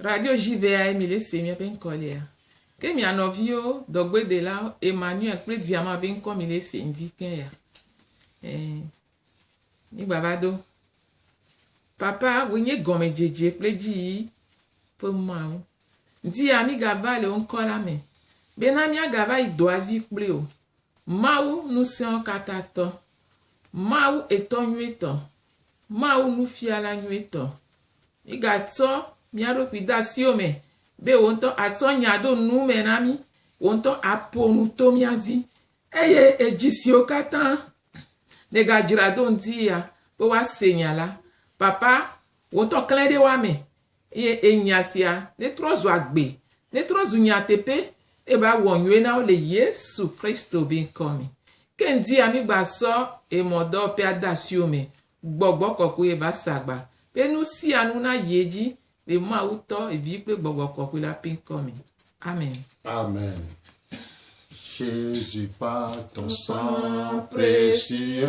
Radio JVA ye mile se miabe ŋkɔ lea. Ke mia nɔviwo, dɔgbedelawo, Emmanuel kple Diama be ŋkɔ mile se ŋdi ke ya. Eh, mi gbava do. Papa, wò nye gɔmedzedze kple dzi yi ƒe mawu. Ŋdi ya mi gava le wò ŋkɔ la me. Bena mia gava yi dɔa zi kple wò. Mawu Ŋusẽɔkatãtɔ, Mawu Etɔ Nyuitɔ, Mawu Nufiala Nyuitɔ. Mígatsɔ mía ɖokui de asiwò me be wò ŋutɔ àtsɔ nya ɖo nu me na mí, wò ŋutɔ àƒo nu to mía dzi, eye edzi siwo katã nègadzra ɖo ŋuti ya be woase nya la, Papa, wò ŋutɔ klẽ ɖe woa me. Eye enya sia netrɔ zu agbe, netrɔ zu nyateƒe, eye va wɔ nyuie na wo le Yesu Kristo be ŋkɔ me. Ke ŋdia mígba sɔ emɔdɔwɔƒe ade asi wo me, gbɔgbɔ kɔkɔe va sa gba be nu sia nu nayi edzi le Mawu Tɔ, Vi kple Gbɔgbɔ Kɔkɔe la ƒe ŋkɔ me. Amen. Amen. Jésus part en sang précieux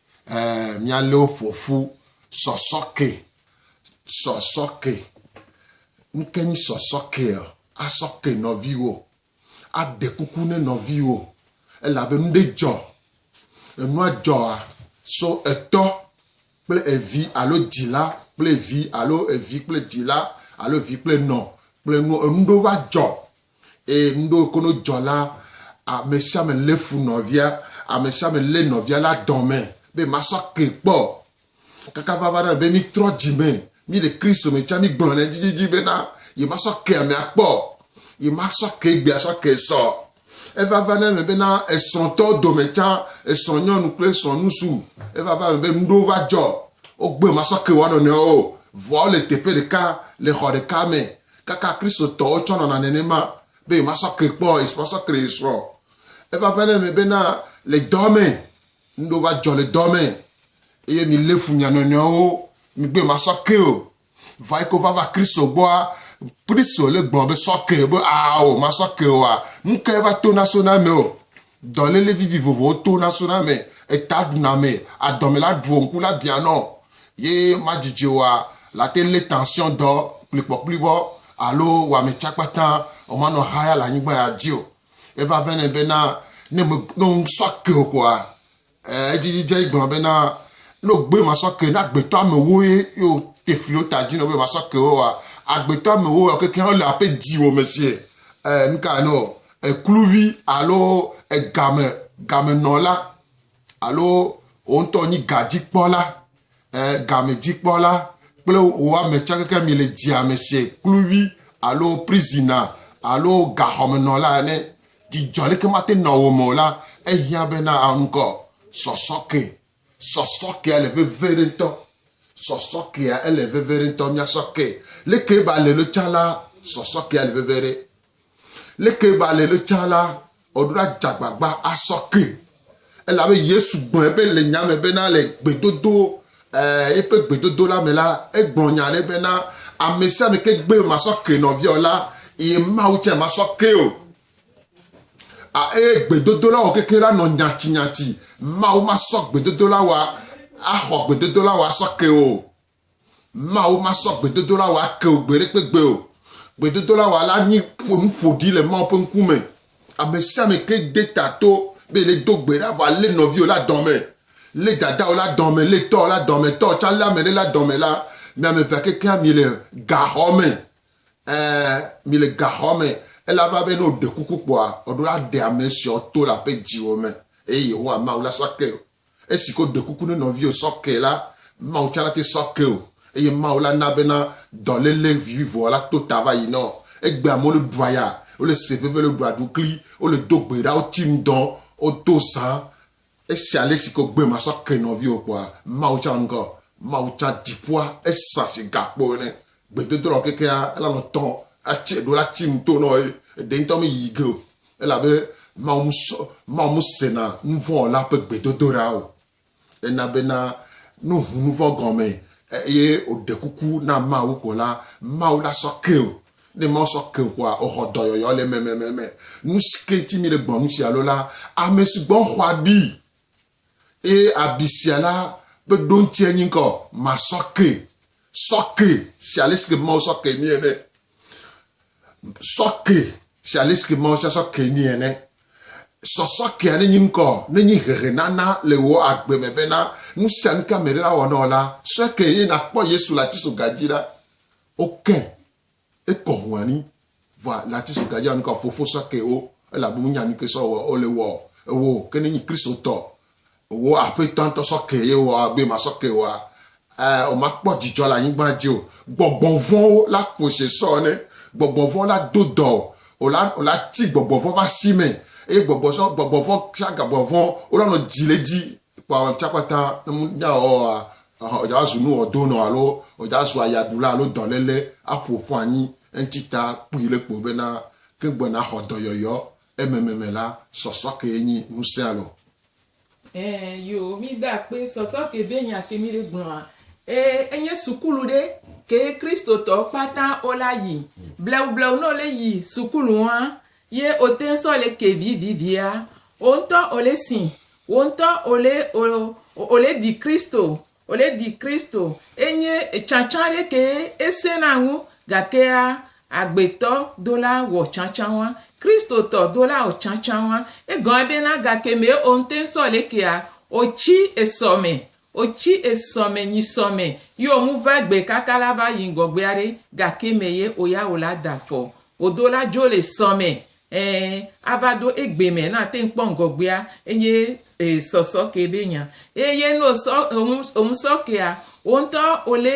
eh, míalé wo ƒo ƒu sɔsɔke sɔsɔke nuke nyi sɔsɔke asɔke nɔviwo aɖe kuku ne nɔviwo elabe nu ɖe dzɔ enua dzɔa so etɔ kple evi alo dzila kple evi alo evi kple dzila alo evi kple nɔ kple nu enu ɖewo va dzɔ Eye nuɖewo kono dzɔ la, amesiame lé fu nɔvia, amesiame lé nɔvia la dɔme be masɔ kee kpɔ o. Kaka vava ɖe eme be mítrɔ dzime, míle Kristo me tsã, mígblɔnɛ edzidzidzi bena yemasɔ kee amea kpɔ o, yemasɔ kee egbea sɔ kee sɔ. Evava ɖe eme bena esrɔ̃tɔwo dome tsã, esrɔ̃nyɔnu kple esrɔ̃nusu, evava eme be nuɖewo va dzɔ, wogbe masɔ kee woanɔnɔewo o, vɔa wole teƒe ɖeka, le xɔ ɖeka me, Kaka Kristotɔwo tsɔ nɔna nenema be yewomasɔ ke kpɔ, yewomasɔ ke ɖe srɔ̃. Eva ƒe ɖe me bena le dɔ me, nu ɖewo va dzɔ le dɔ me eye milé fu mia nɔnɔewo, migbe masɔ ke o. Vɔ eyike wovava Kristo gbɔa, Kristo le gblɔ be sɔ ke, be ao, masɔ ke oa, nukae va tona sona eme o? Dɔléle vivi vovovowo to na sona me, eta ɖuna me, adɔme la ɖuɔ ŋku la bianɔ ye madjidjɛ oa, late lé tension dɔ kplikpɔkplibɔ alo wame tsa kpata o manɔ haya le anyigba ya dji o. Eva vɛnɛ bena ne me no ŋsɔ ke o kpoa. Ɛɛ, edzi dzidze yi gblɔ bena, No gbe masɔ ke, ne agbetɔ amewo ye yo tefliwo ta dzi no be masɔ ke wo wa, agbetɔ amewo wa kekeŋ wo le ape dziwo me sie. Ɛɛ, nu ka no? Ekluvi alo egame, gamenɔla alo wo ŋutɔ nyi gadzikpɔla. eh, gamedzikpɔla kple wò ame tsakeke mi le dzia me se kluvi alo prizina alo gaxɔmenɔla ene. Dzidzɔ leke mate nɔ wo me o la, ehiã be na ŋkɔ sɔsɔke. Sɔsɔkea le veve ɖe ŋutɔ. Sɔsɔkea ele veve ɖe ŋutɔ. Miasɔ ke. Leke ba le lo tsa la, sɔsɔkea le veve ɖe. Leke ba le lo tsa la, Woɖo ɖa dze agbagba asɔ ke, elabe Yesu gblɔe be le nya me bena le gbedodo, e, eƒe gbedodo la me la, egblɔ nya aɖe bena, Ame sia ame ke gbe masɔ ke nɔvia o la, eye Mawu tsɛ masɔ kee o. A, eye gbedodola wɔ kekeɛ la nɔ nyatsinyatsi. Mawu masɔ gbedodola wɔ, axɔ gbedodola wɔ asɔ ke o. Mawu masɔ gbedodoɖa wò ake wò gbeɖekpegbe o. Gbedodoɖa wò la nye ƒo nu ƒo ɖi le Mawu ƒe ŋkume. Ame sia ame ke de ta to be yeado gbe ɖa vɔ alé nɔviwò la dɔme, lé dadawò la dɔme, lé tɔwò la dɔme, tɔwò tsã lé ame ɖe la dɔme la, mi ame evea kekeŋ miele gaxɔ me. Ẽ, miele gaxɔ me, elabena be ne wòɖe kuku kpɔa, wòaɖo aɖe ame siawo to le aƒe dziwo me, eye Yehowa Mawu la sɔ ake wò. Esi ke woɖe kuku ne nɔviwò sɔ kee la, Mawu tsã nate sɔ ke wò, eye Mawu la na bena dɔléle vivivoa la to ta va yi na wò. Egbea amewo le ɖua ya, wole se veve, wole ɖua ɖukli, wole do gbe ɖa, woti nu dɔn, wodo zã. Esi ale si ke wògbe masɔ ke nɔviwò kpɔa, Mawu tsã ŋgɔ. Mawu tsã, dziƒoa, ezã si gakpo ene. Gbedodolɔ ɔ kekea elanɔ tɔ acɛ ɖo la ci ŋto nɔ ye eɖe ŋtɔ me yi ge o elabe Mawu mu sɔ Mawu mu sena nuvɔwɔla ƒe gbedodoɖa o. Ena bena no ŋu nuvɔ gɔme eye o ɖe kuku na Mawu ko la Mawu la sɔ ke o. Ne Mawu sɔ ke o kɔa o xɔ dɔyɔyɔ le mɛmɛmɛmɛ. Nusike ŋti mi le gbɔnnu ci alo la, amɛsugbɔ xɔ abi Eye abi sia la ƒe ɖoŋtsie nye ŋkɔ, Masɔ ke, sɔ ke, se alesike Mawu sɔ ke mi ene. Sɔ ke, se alesike Mawu tsɛ sɔ ke mi ene. Sɔsɔ kea nenye ŋkɔ, nenye hehenana le wò agbe me bena, nusianuke ameɖe nawɔ na wò la, sɔe ke eye nàkpɔ Yesu le atisoga dzi ɖa. Oke Ekɔ hun anyi, vɔa le ati so gajea nuka fofo sa ke o, elabe munya nuke sɔ wɔ o le wɔ ewɔ o, ke ne nyi Kristo tɔ wò aƒetɔ ŋutɔ sɔ ke ye wɔ abe ma sɔ ke wɔa, ɛ o ma kpɔ djidjɔ le anyigban dji o. Gbɔgbɔ vɔwo la ƒo se sɔ ne gbɔgbɔ vɔ la do dɔ o, o la o la ti gbɔgbɔ vɔ va si me, eye gbɔgbɔ sɔ gbɔgbɔ vɔ kple agabɔ vɔ wo la nɔ dji le dji Kpɔ ŋutsakpata nunyawɔwɔa, wòdzazu nuwɔdonɔ alo wòdzazu ayadula alo dɔléle aƒo ƒu anyi. Eŋti ta kpui le kpo bena, ke gbe naxɔ dɔyɔyɔ ememe me la, sɔsɔke enyi ŋusẽa lɔ. Ẽ, yo, mi de akpee, sɔsɔke ɖe nya ke mi ɖe gblɔa. E, enye sukulu ɖe ke Kristotɔwo kpata wo la yi. Blewublewu ne wo le yi sukulu wɔa, Ye o teŋ sɔ le ke vi vi via o ŋutɔ o le si wo ŋutɔ o le o o le di Kristo o le di Kristo enye tsatsa ɖe ke e se na ŋu gakea agbetɔ do la wɔ tsatsa wa Kristo tɔ do la o tsatsa wa egɔa be na gake me o ŋutɔ sɔ le kea o tsi esɔ me Otsi esɔ mɛ nyi sɔ mɛ yi o mu va gbe kaka la va yi ŋgɔgbe aɖe gake mɛ ye o ya o la da afɔ o do la dzo le sɔ mɛ e a va do egbe mɛ na te ŋ kpɔ ŋgɔgbea enye e sɔ sɔ ke be nya e ye no sɔ o ŋu o ŋu sɔ ke a o ŋtɔ o le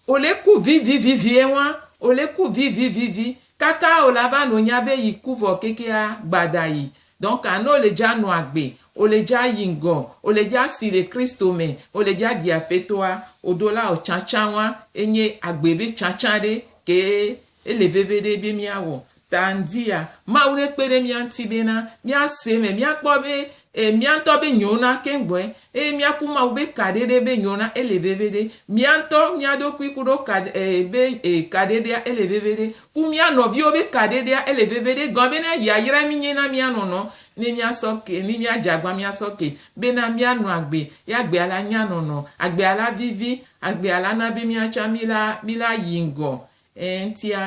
o le ku vi vi vi vi e ŋua o le ku vi vi vi vi kaka o la va no nya be yi ku vɔ keke a gba da yi dɔnka no le dza no agbe O le dja yi ŋgɔ, o le dja si le Kristo me, o le dja di Apetɔa o dola o tsatsa wa e nye agbe be tsatsa ɖe kee e le veve ɖe be mia wɔ. Ta ŋdi ya Mawu ne kpe ɖe mia ŋti be na mia se eme, mia kpɔ be e mia ŋtɔ be nyo na keŋ gbɔe eye mia ku Mawu be ka ɖeɖe be nyo na e le veve ɖe. Mia ŋtɔ mia ɖokui kuɖo ka e be e ka ɖeɖea e le veve ɖe. Ku mía nɔviwo be kaɖeɖea ele veviɖe gɔn be na yayra mi nye na mía nɔnɔ ne mía sɔ ke ni mía djagba mía sɔ ke be na mía nɔ agbe ye agbea la nya nɔnɔ agbea la vivi agbea la na be mía tsa mi la mi la yi ŋgɔ eŋtia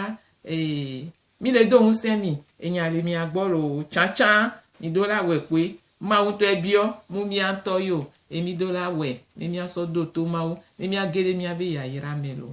ee mi le do ŋusẽ mi enya le mia gbɔ loo tsatsa mi do la wɛ kpoe mawu ŋtɔ ebiɔ mu mía ŋtɔ yo e mi do la wɛ ne mía sɔ do to mawu ne mía ge ɖe mía be yayra me loo.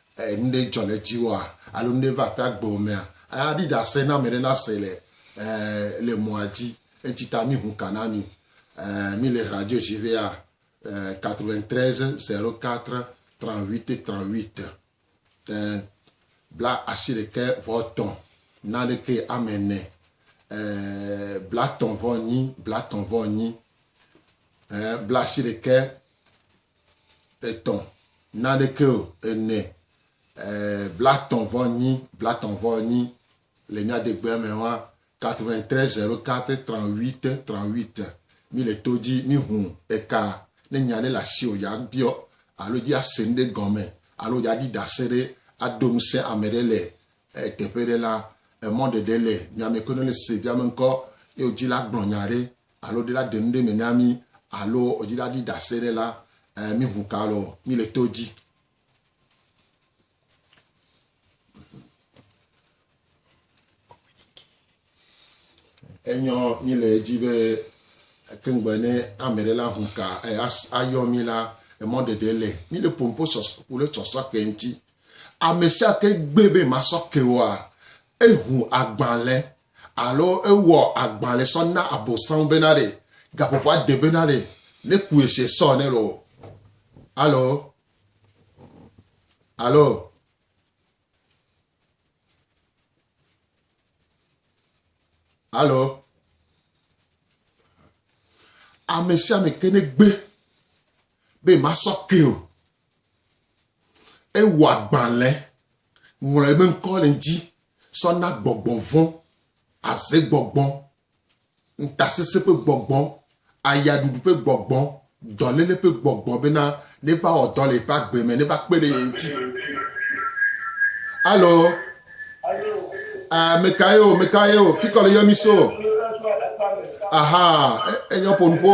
E, nu ɖe dzɔ le dziwòa alo nu ɖe va aƒea gbɔwò mea, e, aɖi ɖase na ame ɖe nase le, e, le mɔa dzi. Eŋtsi ta mi ŋu ka na mi. E, mi le radio dzi ʋɛa, e, 93 04 38 38, e, bla ashi ɖekɛ vɔ tɔn na ɖekɛ ame nɛ, e, blatɔn vɔ nyi, blatɔn vɔ nyi, e, bla ashi ɖekɛ. etɔ̃ naneke o ene blatɔn vɔ nyi blatɔn vɔ nyi le mía degbea me wa 93 04 38 38 mi le to dzi mi hu eka ne nya ɖe le asi o ya biɔ alo dzi ase ŋɖe gɔme alo ya ɖi dase ɖe ado ŋusẽ ame ɖe le teƒe ɖe la emɔ ɖeɖe le mia me kono le se via me ŋkɔ ye wodzi la gblɔ nya ɖe alo ɖe la ɖenuɖe me na mí alo wodzi la ɖi ɖase ɖe la, eh, mí ŋu ka lɔ mí le to dzi. Enyɔ mí le edzi be kengbe ne ame ɖe la ŋu ka eh, ayɔ mí la, emɔ ɖeɖe le mí le pompo sɔsɔ, wole sɔsɔ ke ŋuti. Ame sia ke gbe be masɔ ke woa, eŋu agbalẽ Alo ewɔ agbalẽ sɔ na Abosam bena ɖe gaƒoƒoa de bena ɖe nekue se sɔ ne lɔ. Alo, alo, alo, ame sia ame ke negbe be masɔ ke o. Ewɔ agbalẽ Ŋlɔ ye me ŋkɔ le ŋdzi sɔ na gbɔgbɔ vɔ̃, aze gbɔgbɔ, ŋtasesẽ ƒe gbɔgbɔ, ayaɖuɖu ƒe gbɔgbɔ, dɔléle ƒe gbɔgbɔ bena neva wɔ dɔ le yeƒe agbe me, neva kpe ɖe ye ŋuti. Alo, mekae o, mekae o, fikɔ le yɔ mi so. Aha, enyɔ ƒonuƒo.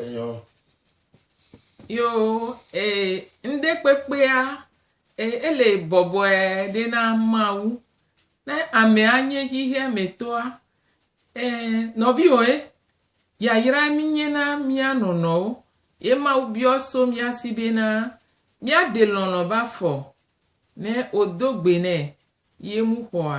Enyɔ. Yo e ŋɖe kpekpea e ele bɔbɔe ɖe na Mawu. Ne amea nye xexea me tɔa e nɔviwoe yayra minye na mia nɔnɔwo ye Mawu biɔ so mia si bena miade lɔlɔ va fɔ ne odo gbe nɛ ye mu xɔa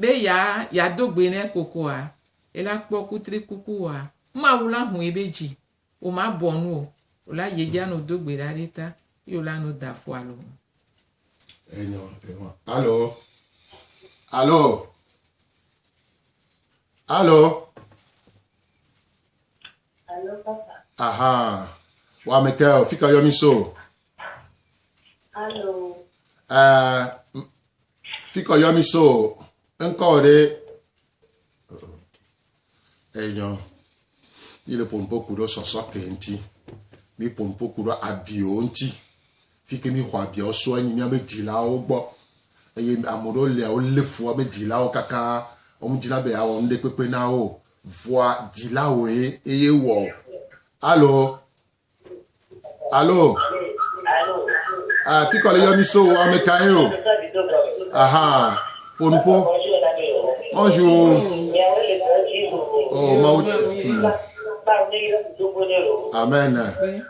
Be ya ya do gbe ne kokoa ela kpɔ kutri kuku oa, Mawu la hũi be dzi wo ma bɔ nu o, o la ye dja nu do gbe ɖa ɖi ta, ye o la nu da fo alo ŋu. Enyɔ enyɔ alo alo alo. Alo papa. Aha. Wa Michael, fi ka yɔ mi so? Alo. Uh, fi ka yɔ mi so? Ŋkɔ ɖe. Enyɔ. Yi le pompo ku ɖo sɔsɔ ke ŋti. Mi pompo ku ɖo abio ŋti. Fi ke mi xɔ abiawo sua nyi mía be dzilawo gbɔ. Eye ame ɖewo lia wo le fu ame dzilawo kaka wo me dzina be ya wɔ nuɖe kpekpe na wo. Vɔa dzila woe eye wɔ o. Alo? Alo? Alo? Ah, fi kɔ le yɔ mi so o, ame ka ye o? Aha, po nu po. Bonjour. Oh, ma ou. Amen.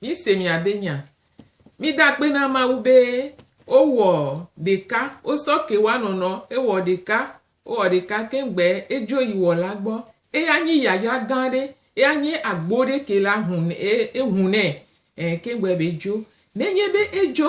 Míse miabe nya. Mida akpe na Mawu be wowɔ ɖeka, wosɔ ke wa nɔnɔ ewɔ ɖeka, wowɔ ɖeka keŋ gbe edzo yi Wɔla gbɔ. Eya nyi yayra gã ɖe, eya nye agbo ɖe ke la hun e ehunɛ e keŋ gbe be edzo. Nenye be edzo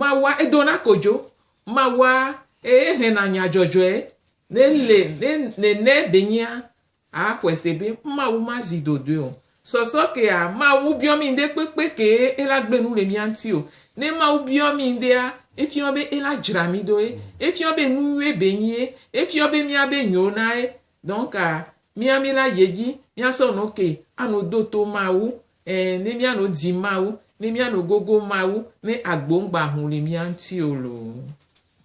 Mawua edona kodzo, mawua eye hena nya dzɔdzɔe ne le ne nene benyea a xɔe se be Mawu ma zi dodoe o. Sɔsɔ kea, Mawu biɔ mi ŋde kpekpe ke ela gbe nu le mia ŋti o. Ne Mawu biɔ mi ŋdea, efiɔ be ela dzra mi doe, efiɔ be nu nyuie be nyie, efiɔ be mia be nyo nae Donc mía mí la yie dzi mía sɔ no ke a no do to Mawu e ne mía no dzi Mawu ne mía no gogo Mawu ne agbo ŋgba hun li mía ŋuti o loo.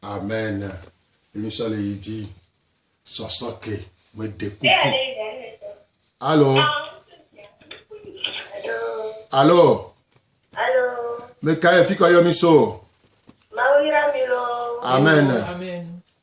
Amen mí mí sɔ le yi dzi sɔ sɔ ke me de kuku. Alo Alo Alo me ka ye fi kɔ yɔ mí so. Mawu yra mí loo. Amen. Amen.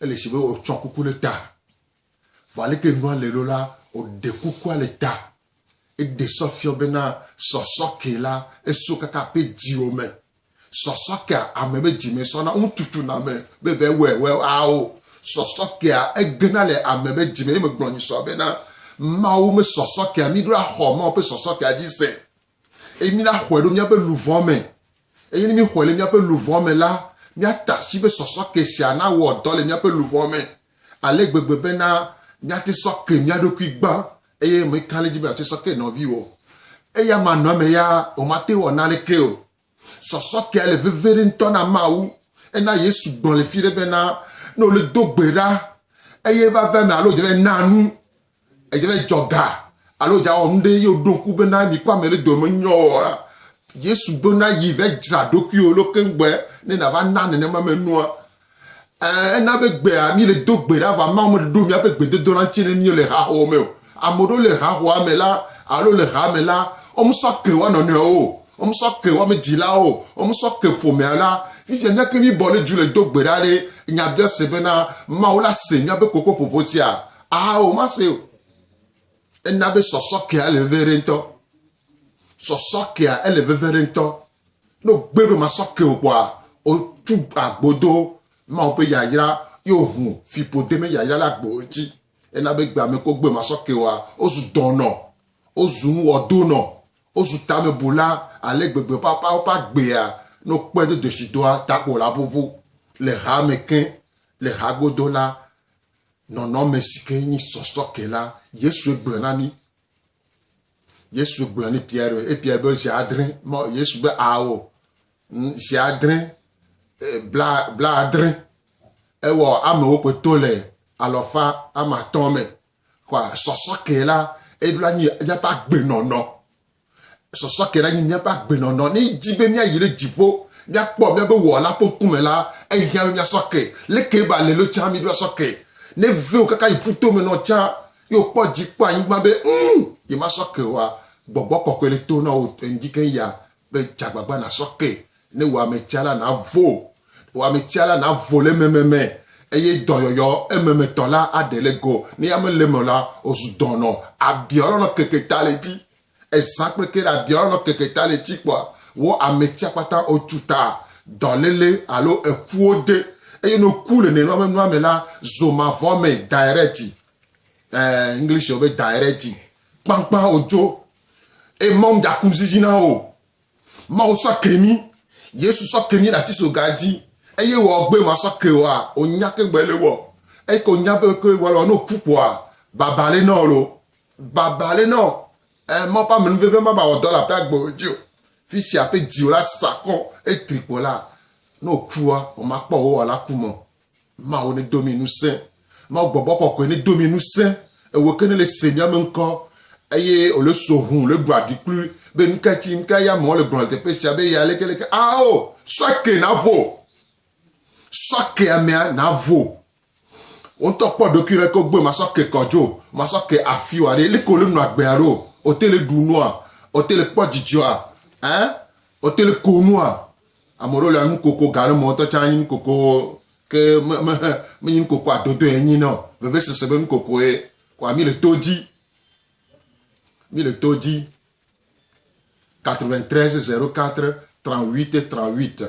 Ele si be wòtsɔ kuku ɖe ta. Vɔ aleke nua le ɖo la, wòɖe kukua le ta. Eɖe sɔ fiɔ bena sɔsɔke la, esɔ kaka eƒe dziwo me. Sɔsɔkea, ame ƒe dzi me sɔna ŋu tutuna ame be va wɔe wɔe ao. Sɔsɔkea, egena le ame ƒe dzi me eye megblɔ nyisɔ bena, Mawu me sɔsɔkea, míɖo axɔ Mawu ƒe sɔsɔkea dzi se. eye mina xɔe ɖo míaƒe luʋɔ me, eye ne míxɔe le míaƒe luʋɔ me la, míata asi be sɔsɔ ke sia nawɔ dɔ le míaƒe luʋɔ me ale gbegbe bena míate sɔ ke mía ɖokui gbã, eye meka ɖe edzi be nàte sɔ ke nɔviwò. Eya manɔame ya, womate wɔ naneke o. Sɔsɔ kea le veve ɖe ŋutɔ na Mawu. Ena Yesu gblɔ le fi ɖe bena, ne wole do gbe ɖa eye va ve me alo dze ve na nu, edze ve dzɔ ga alo dza wɔ nu ɖe ye woɖo ŋku bena mi kɔ ame ɖe dome nyɔ wɔa, Yesu bena yi ve dzra ɖokuiwo ɖo keŋ gbe ne na va na nenema me nua. Ena be gbea mi le do gbe ɖa va ma me ɖo miaƒe gbedodo la ŋuti ne mi le haxɔ me o. Ame ɖewo le haxɔa me la alo le ha me la, wome sɔ ke woa nɔnɔewo o, wome sɔ ke woame dzilawo o, wome sɔ ke ƒomea la. Fifia mía ke mi bɔ le dzu le do gbe ɖa ɖe nya bia se be na Mawu la se miabe kokoƒoƒo sia? Ao, ma se o. Ena be sɔsɔ kea le vevie ɖe ŋutɔ. Sɔsɔ kea ele veve aɖe ŋutɔ. Ne wogbe ɖo masɔ ke o kpɔa, wotu agbo do Mawu ƒe yayra ye wohu fiƒode me yayra ɖe agbo ŋuti. Ena be gbea me ke wogbe masɔ ke oa, wozu dɔnɔ, wozu nuwɔdonɔ, wozu tamebula ale gbegbe papa woƒe agbea, ne wokpɔe do desidoa ta ko wòla ʋuʋu. Le ha me ke, le ha godo la, nɔnɔme si ke nyi sɔsɔ ke la, Yesue gblɔ na mí. Yesu gblɔ ni Pierre be ebia be zi adre mɔ Yesu be awo zi adre bla bla adre ewɔ amewo kpe to le alɔfa ama tɔn me kɔa sɔsɔ ke la ebla nyi yaba gbe nɔnɔ sɔsɔ ke la nyi yaba gbe nɔnɔ ni dzi be mia yi le dzipo mia kpɔ mia be wɔ la ponku me la ehia mia sɔke le ke ba le lo tsa mi do sɔke ne veo kaka yi puto me nɔ tsa ye wòkpɔ dzi kpɔ anyigba be ŋu yemasɔ ke oa, gbɔgbɔ kɔkɔe le to na wò ŋdi keŋ ya be dze agbagba nàsɔ ke ne wò ametsia la nàvo. Wò ametsia la nàvo le ememe me eye dɔyɔyɔ ememetɔ la aɖe le go. Ne ya mele eme o la, wòzu dɔnɔ. Abiɔ lɔlɔ keke ta le edzi. Ezã kple ke ɖe abiɔ lɔlɔ keke ta le edzi kpɔa, wò ametsia kpata wòtu ta, dɔléle alo ekuwo de. Eye ne wòku le nenema be nua me la, zo mavɔ me directly. Eh, English yɔ be directing. Kpankpan ojo. E Mawu daku zizi na wo. Mawu sɔ ke mi. Yesu sɔ ke mi ɖati so gadzi. Eye wɔ gbe ma sɔ ke wa. Onya ke gbe le wɔ. Eye ko nya be ke wɔ le wɔ no ku kpoa. Baba le nɔ lo. Baba le nɔ. Eh, Mawu pa menu veve ma ba wɔ dɔ la pe agbe ojo. Fisia ƒe dziwɔla sa kɔ eye tri kpɔ la, ne wòkua, womakpɔ wò Wɔla ku me o. Mawu nedo mi ŋusẽ. Mawu gbɔgbɔ kɔkɔe nedo mi ŋusẽ. Ewò ke nèle se mía me ŋkɔ. Eye wòle so hũ, wòle ɖua ɖi kplu be nuka tsi, nuka eya amewo le gblɔ le teƒe sia be eya leke leke. Ao, sɔ ke navo. Sɔ ke amea navo. Woŋtɔ kpɔ ɖokui ɖe ko gbe masɔ ke kɔdzo, masɔ ke afi wa ɖe. Liko le nu agbea ɖo. Ote le ɖu nua. Ote le kpɔ dzidzɔa. Ɛ? Ote le ko nua. Ame ɖewo le anu koko ga ɖe me woŋtɔ tsa anyi nu koko ke me me he me nyi nu koko adodo ye nyi nɔ. Veve sese be nu koko ye. Kɔa mi le to dzi. Mi le to dzi. 93 0 4 38 38.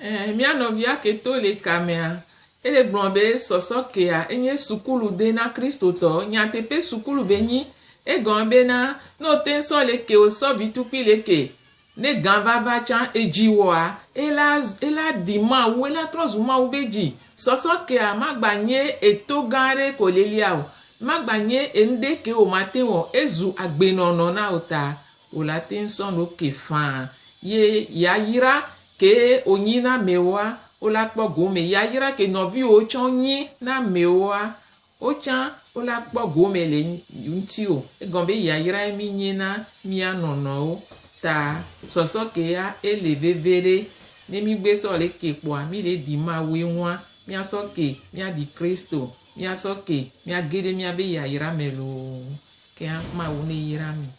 Ɛɛ, mía nɔvia keto le ka mea, ele gblɔ be sɔsɔ kea enye sukulu de na Kristotɔ. Nyateƒe sukulu be nyi. Egɔme be na, ne wote sɔ le ke wosɔ vitukui le ke, ne gã va va tsã edzi wɔa, ela, ela di Mawu, ela trɔ zu Mawu be dzi. Sɔsɔ kea magba nye eto gã ɖe ko lelia o. Magba nye enuɖe ke womate wɔ. Ezu agbenɔnɔ na wò ta. Wòle ateŋ sɔn no ke faa ye yayra ke wonyi na amewoa, wole akpɔ gome yayra ke nɔviwo tsɔ nyi na amewoa, wotsã wole akpɔ gome le ŋutiwo. Egɔme be yayrae mi nyi na mia nɔnɔwo ta. Sɔsɔ ke ya ele veve ɖe. Ne mi gbe sɔ le ke kpɔa, mi le ɖi Mawue ŋua, mia sɔ ke mia ɖi Kristo, mia sɔ ke mia ge ɖe miabe yayra me loo. Kea Mawu ne yra mi.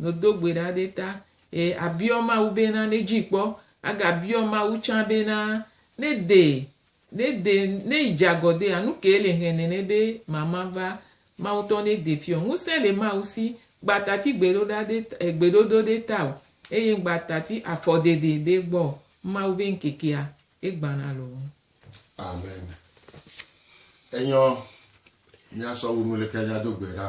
Nodo gbe ɖa ɖe ta. Eye abiɔ Mawu bena nedzi kpɔ. Agabiɔ Mawu tsã bena nede, nede, ne yi dze agɔ dea, nu kee le hɛn nɛ nɛ be mama va. Mawu ŋutɔ nede fiɔ. Ŋusẽ le Mawu si. Ŋgba tati gbeɖoɖa ɖe ta, e, gbeɖoɖo ɖe ta o. Eye ŋgba tati afɔɖeɖe ɖe gbɔ o. Mawu be ŋkekea, egbana loo. Amen. Enyɔ, mìasɔ wu nu leke mìado gbe ɖa.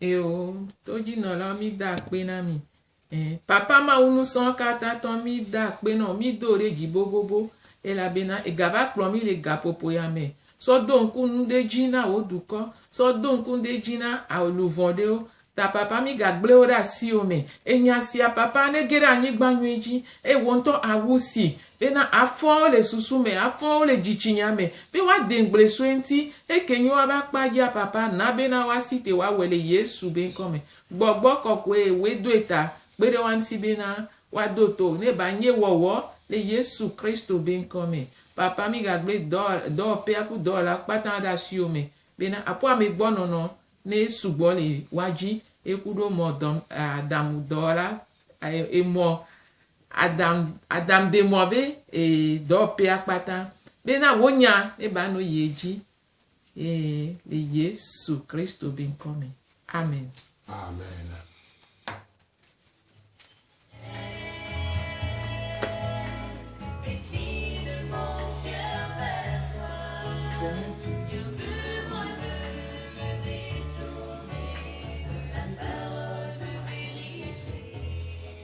Eo, todzinɔla, mi da akpe na mi. Eh, papa mawu nusɔ katã tɔ mi da akpe nɔ, mi do ɖe dzi bobobo. Elabena egava kplɔ mi le gaƒoƒo ya me. Sɔ do ŋku nu ɖe dzi na wò dukɔ. Sɔ do ŋku nu ɖe dzi na alu vɔ̃ ɖewo. Ta papa mi gagble wo ɖe asiwo me. Enya sia papa nege ɖe anyigba nyui dzi. Eye wò ŋutɔ awu si. Bena afɔawo le susu me, afɔawo le dzitsinya me, be woade ŋgble sue ŋuti, eke nyo woa be akpa dzi a papa na bena woa si te woa wɔe le Yesu be ŋkɔ me. Gbɔgbɔ kɔkɔe woe doe ta kpe ɖe woa ŋuti bena woa do to ne ba nye wɔwɔ le Yesu Kristo be ŋkɔ me. Papa mi ga gble dɔ, dɔwɔpea ku dɔwɔla kpata ɖe asiwo me bena aƒo ame gbɔ nɔnɔ ne sugbɔ le woa dzi, eku ɖo mɔ dɔ, a, damu dɔwɔla, a, emɔ Adam Adam de mɔ be ee dɔwɔpea kpata bena wonya ne ba no yie dzi ee le Yesu Kristo be ŋkɔ me. Amen. Amen.